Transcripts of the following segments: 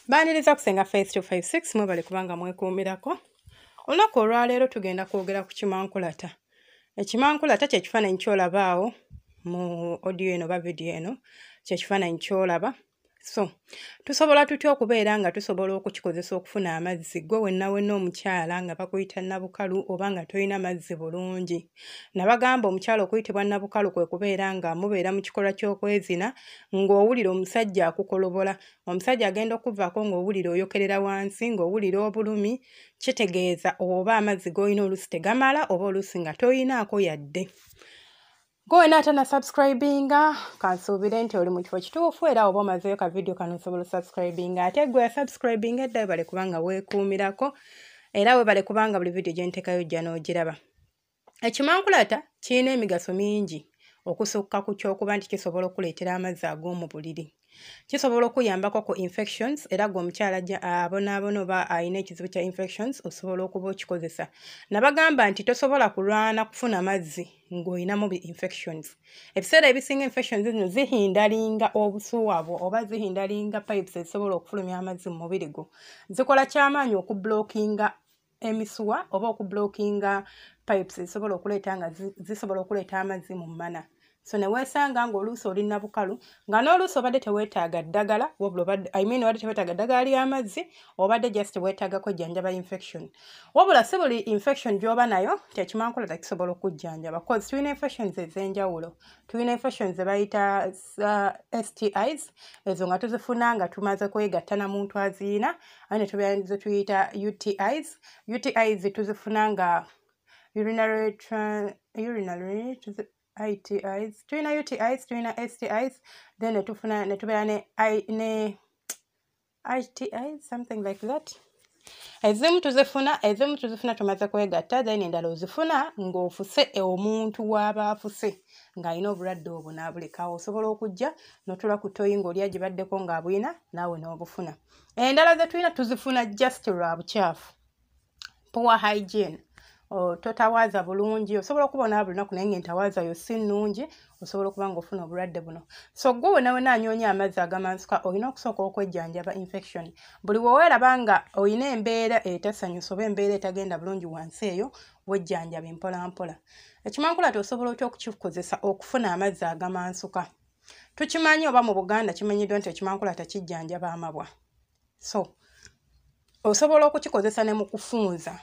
baniriza kusenga faith 256 mwebale kubanga mwekuumirako olunaku olwaleero tugenda kwogera ku kimankulata ekimankulata kyekifaananyi kyolabaawo mu odio eno oba vidiyo eno kyekifaananyi kyolaba so tusobola tutya okubeera nga tusobola okukikozesa okufuna amazzi gwe wenawena omukyala nga bakuyita nabukalu oba nga tolina mazzi bulungi nabagamba omukyala okuyitibwa nabukalu kwe kubeera nga mubeera mu kikolwa ky'okwezina ng'owulira omusajja akukolobola omusajja agenda okuvaako ng'owulira oyokerera wansi ng'owulira obulumi kitegeeza oba amazzi g'olina oluusi tegamala oba oluusi nga toyinaako yadde gwe wena atana subscribinga kansuubire nti oli mu kifo kituufu era oba omazeyo ka vidiyo kano osobola osubscribinga ate gwe yasubscribinga edda webale kubanga weekuumirako era webale kubanga buli vidiyo gyentekayo ojja n'ogiraba ekimankulata kirina emigaso mingi okusukka ku kyokuba nti kisobola okuleetera amazzi ag'omu buliri kisobola okuyambako ku infections era gwe omukyala abonaabona oba alina ekizibu kya infections osobola okuba okikozesa nabagamba nti tosobola kulwana kufuna mazzi ng'olinamu bi infections ebiseera ebisinga infections zino zihindalinga obusuwa bwo oba zihindalinga pipes ezisobola okufulumya amazzi mu mubiri gwo zikola kyamaanyi okublockinga emisuwa oba okublockinga pipes ezisobola okuleeta nga zisobola okuleeta amazzi mu mana so neweesanga ngaoluusi oli nabukalu nga n'oluusi obadde teweetaaga ddagala imean obadde teweetaaga ddagala ly'amazzi obadde just weetaagako jjanjaba infection wabula si buli infection gy'oba nayo kyekimankula takisobola okujjanjaba bcause tulina infections ez'enjawulo tulina infections zebayita uh, stis ezo nga tuzifuna nga tumaze kwegatta na muntu aziina aye ne tubeera zetuyita utis utis tuzifuna nga urinary itis tulina utis tulina stis then netufuna netubeera ne iti something like that ezimu tuzifuna ezimu tuzifuna tumaze kwegatta then endala ozifuna ng'ofuse e omuntu waaba afuse ng'alina obulwadde obwo n'abulekawo osobola okujja notula ku toyi ng'olya gye baddeko ng'abulina naawe n'obufuna endala zetulina tuzifuna just lwa bukyafu poor hygiene totawaaza bulungi osobola okuba onaba lunaku naye nga entawaaza yo si nnungi osobola okuba nga ofuna obulwadde buno so gwe wenawena anyoonya amazzi agamansuka olina okusooka okwejjanjaba infection buli weweeraba nga olina embeera etasanyusa oba embeera etagenda bulungi wansi eyo wejjanjaba empolampola ekimankulati osobola otya okukikozesa okufuna amazzi agamansuka tukimanyi oba mu buganda kimanyiddwa nti ekimankula takijjanjaba amabwa so osobola okukikozesa ne mu kufunza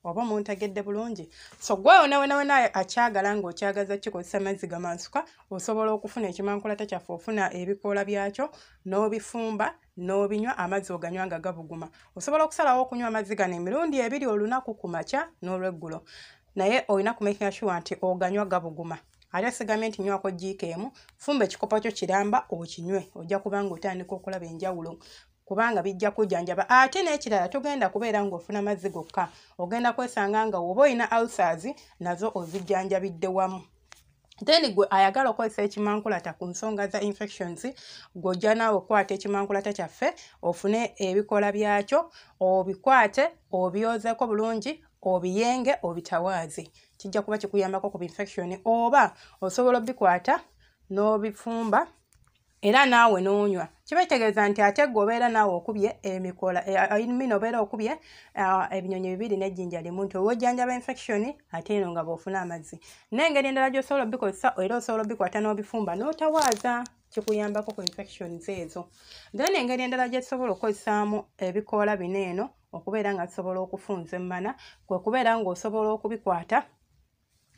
oba muntegedde bulungi so gwe onawenawena akyagala nga okyagaza kikozesa mazzi gamansuka osobola okufuna ekimankulata kyaffe ofuna ebikoola byakyo n'obifumba n'obinywa amazzi oganywa nga gabuguma osobola okusalawo okunywa amazzi gano emirundi ebiri olunaku ku makya n'olweggulo naye olina kumakinga shuwa nti oganywa gabuguma ate sigambye nti nywako jiika emu fumba ekikopo kyo kiramba okinywe ojja kubanga otandika okulaba enjawulo kubanga bijja kujanjaba ate n'ekirala togenda kubeera ng'ofuna mazzi gokka ogenda kwesanga nga woba olina alsers nazo ozijjanjabidde wamu then gwe ayagala okozesa ekimankulata ku nsonga za infections gwojja naawe okukwata ekimankulata kyaffe ofune ebikola byakyo obikwate obyozeko bulungi obiyenge obitawaaze kijja kuba kikuyambako ku infection oba osobola obikwata n'obifumba era naawe n'onywa kiba kitegeeza nti ate gwe obeera naawe okubye emikola eh, eh, mina obeera okubye ah, ebinyonyi bibiri n'ejjinja limu nti owojjanjaba infection ate eno nga bwofuna amazzi n'engeri endala gy'osobola obikozesa era osobola obikwata n'obifumba n'otawaaza kikuyambako ku infections ezo then engeri endala gyetusobola okukozesaamu ebikoola bino eno okubeera nga tusobola okufunza emmana kwe kubeera ng'osobola okubikwata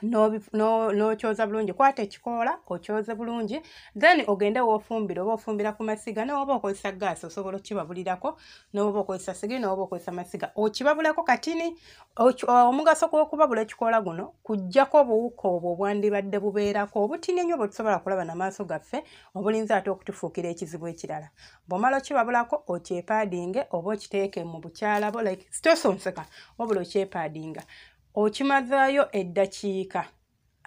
n'okyoza bulungi kwata ekikoola okyoze bulungi then ogende wofumbira oba ofumbira ku masiga nowoba okozesa gaasi osobola okukibabulirako nowoba okozesa sigi nowoba okozesa masiga okibabulako katini omugaso gwokubabula ekikoola guno kujjako obuwuka obwo obwandibadde bubeerako obutini ennyo bwetusobola kulaba namaaso gaffe obulinza ate okutufuukira ekizibu ekirala bwomala okibabulako okyepaadinge oba okiteeke mu bukyala bo like sitosonseka wabula okyepaadinga okimazaayo eddakiika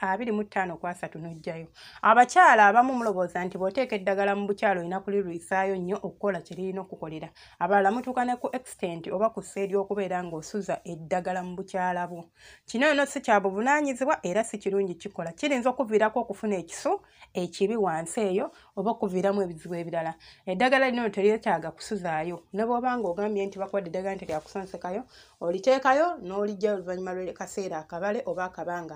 abiri mu ttaano ku asatu n'ojjayo abakyala abamu mulowooza nti bw'oteeka eddagala mu bukyala olina kulirwisaayo nnyo okukola kye lirina okukolera abalala mutuuka ne ku extent oba ku ssa ery'okubeera ng'osuza eddagala mu bukyala bwo kino yono si kya buvunaanyizibwa era si kirungi kikola kiyinza okuviirako okufuna ekiso ekibi wansi eyo oba okuviiramu ebizibu ebirala eddagala lino teryetaaga kusuzaayo ne bwoba nga ogambye nti bakuwadde eddagala nti lyakusonsekayo oliteekayo n'olijja oluvannyuma lwekaseera akabale oba akabanga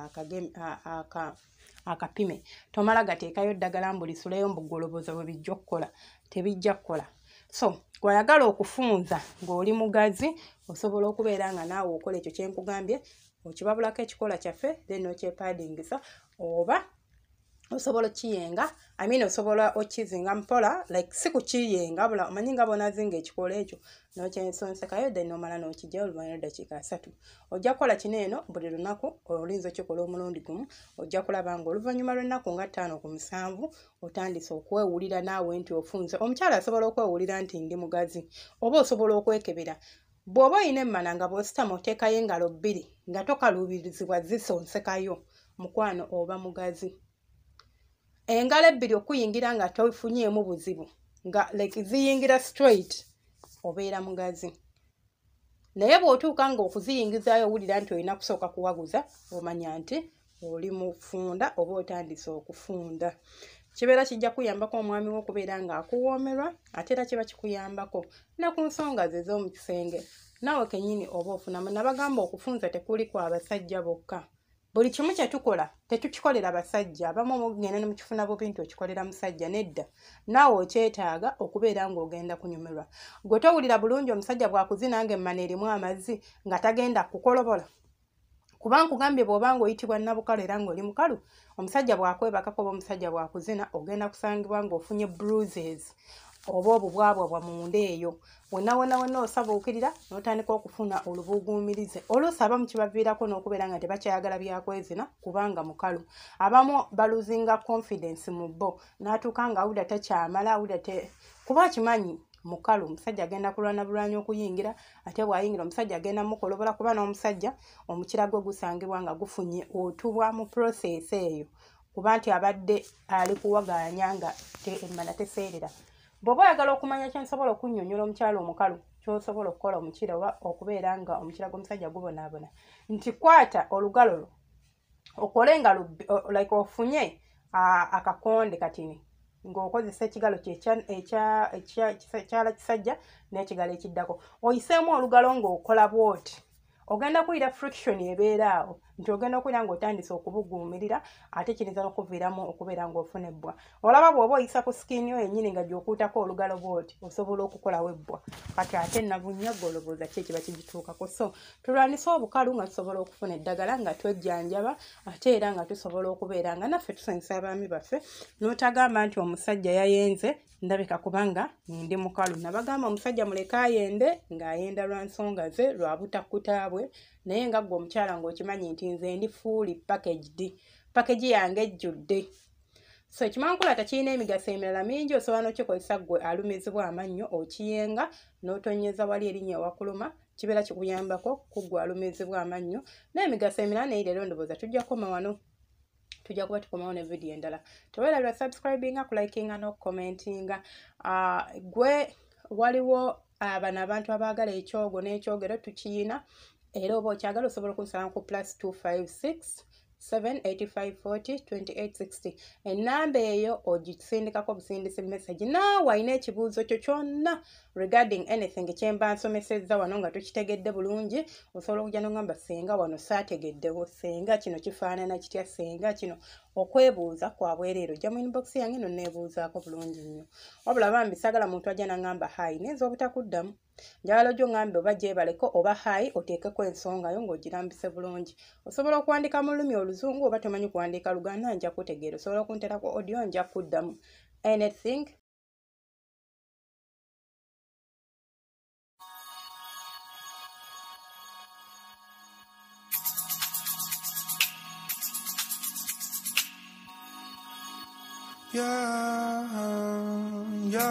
akapime tomala gateekayo ddagala mbu lisuleyo mbugoloboza bwe bijja okukola tebijja kukola so gwayagala okufunza ng'oli mugazi osobola okubeera nga naawe okola ekyo kyenkugambye okibabulako ekikola kyaffe then okyepaadingisa oba osobola okiyenga i mean osobola okizinga mpola like si kukiyenga bula omanyi nga bonazinga ekikola ekyo nokyensonsekayo then omala nokija oluvanyu eddakiika asatu ojja kukola kino eno buli lunaku olinza okikola omulundi gumu ojja kulaba nga oluvannyuma lwennaku nga ttaano ku musanvu otandise okwewulira naawe nti ofunze omukyala asobola okwewulira nti ndi mugazi oba osobola okwekebera Bw'oba olina emmana nga bw'ositama oteekayo engalo bbiri nga tokaluubirizibwa zisonsekayo mukwano oba mugazi. Engalo ebbiri okuyingira nga tofunyeemu buzibu nga like ziyingira straight obeera mugazi. Naye bw'otuuka ng'okuziyingizaayo owulira nti olina kusooka kuwaguza omanya nti oli mufunda oba otandise okufunda kibeera kijja kuyambako omwami wo okubeera ng'akuwoomerwa ate era kiba kikuyambako ne ku nsonga ze z'omu kisenge naawe kennyini oba ofunamu nabagamba okufunza tekuli ku abasajja bokka buli kimu kye tukola tetukikolera basajja abamu omugenda ne mukifuna bubi nti okikolera musajja nedda naawe okyetaaga okubeera ng'ogenda kunyumirwa gwe towulira bulungi omusajja bwakuzina nga emmana erimu amazzi nga tagenda kukolobola kuba nkugambye bw'oba ng'oyitibwa nabukalo era ng'oli mukalu omusajja bw'akwebakako oba omusajja bw'akuzina ogenda kusangibwa ng'ofunye bruises oba obubwabwabwa munda eyo wonawona wonna osabuukirira n'otandika okufuna olubuguumirize oluusi abamu kibaviirako n'okubeera nga tebakyayagala byakwezina kubanga mukalu abamu baluzinga confidence mu bo n'atuuka nga awulira takyamala awulira kuba akimanyi mukalu omusajja agenda kulwana bulwanya okuyingira ate bwayingira omusajja agenda mukolobola kuba n'omusajja omukira gwe gusangibwa nga gufunye otubwa mu process eyo kuba nti abadde ali kuwagaanya nga emmana teseerera bw'oba oyagala okumanya kyensobola okunyonyola omukyalo omukalu kyosobola okukola omukira oba okubeera nga omukira gw'omusajja gubonaabona nti kwata olugalo lwo okole nga like ofunye akakonde katini ng'okozesa ekigalo kyekyala kisajja n'ekigalo ekiddako oyiseemu olugalo ng'okola bwoti ogenda kuwulira friction ebeera awo nti ogenda okuwulira ng'otandise okubuguumirira ate kiyinza n'okuviiramu okubeera ng'ofuna ebbwa olaba bwoba oyisa ku sikiini yo yenyini nga gyokuutako olugalo bwoti osobola okukolawo ebbwa kati ate nabunya golowooza ki ekiba kigituukako so tulwanise obukalu nga tusobola okufuna eddagala nga twejjanjaba ate era nga tusobola okubeera nga naffe tusanyusa abaami baffe notagamba nti omusajja yayenze ndabika kubanga ndi mukalu nabagamba omusajja muleke ayende ng'ayenda lwa nsonga ze lwa butakkutaabwe naye nga ggwe omukyala ng'okimanyi nti nze ndi fuuli packaged package yange ejjudde so ekimankulata kirina emigaso emirala mingi osobola nokikozesa gwe alumizibwa amannyo okiyenga notonyeza wali erinya ewakuluma kibeera kikuyambako kugwe alumizibwa amannyo n'emigaso emirala naye leero ndowooza tujja kukoma wano tujja kuba tukomawo ne vidiyo endala tewerabira subscribinga kulikinga n'okukomentinga ah, gwe waliwo abana ah, abantu abaagala ekyogo n'ekyogero tukiyina era oba okyagala osobola okunsalamu ku plus 256 785402860 enamba eyo ogisindikako obusindisi message naawe alina ekibuuzo kyo kyonna regarding anything kyemba nsomesezza wano nga tukitegedde bulungi osobola okujja nogamba senga wano saategeddewo senga kino kifaanana kitya senga kino okwebuuza kwabwereero jja mu inbox yange no neebuuzaako bulungi nnyo wabula bambi sagala muntu ajja nangamba hayi nayinza obutakuddamu njagala ojja oŋambe oba gyebaleko oba hai oteekeko ensonga yo ng'ogirambise bulungi osobola okuwandika mu lulumi oluzungu oba tomanyi kuwandiika luganda nja kutegeera osobola okuntera ku odio nja kuddamu anything Yeah, yeah.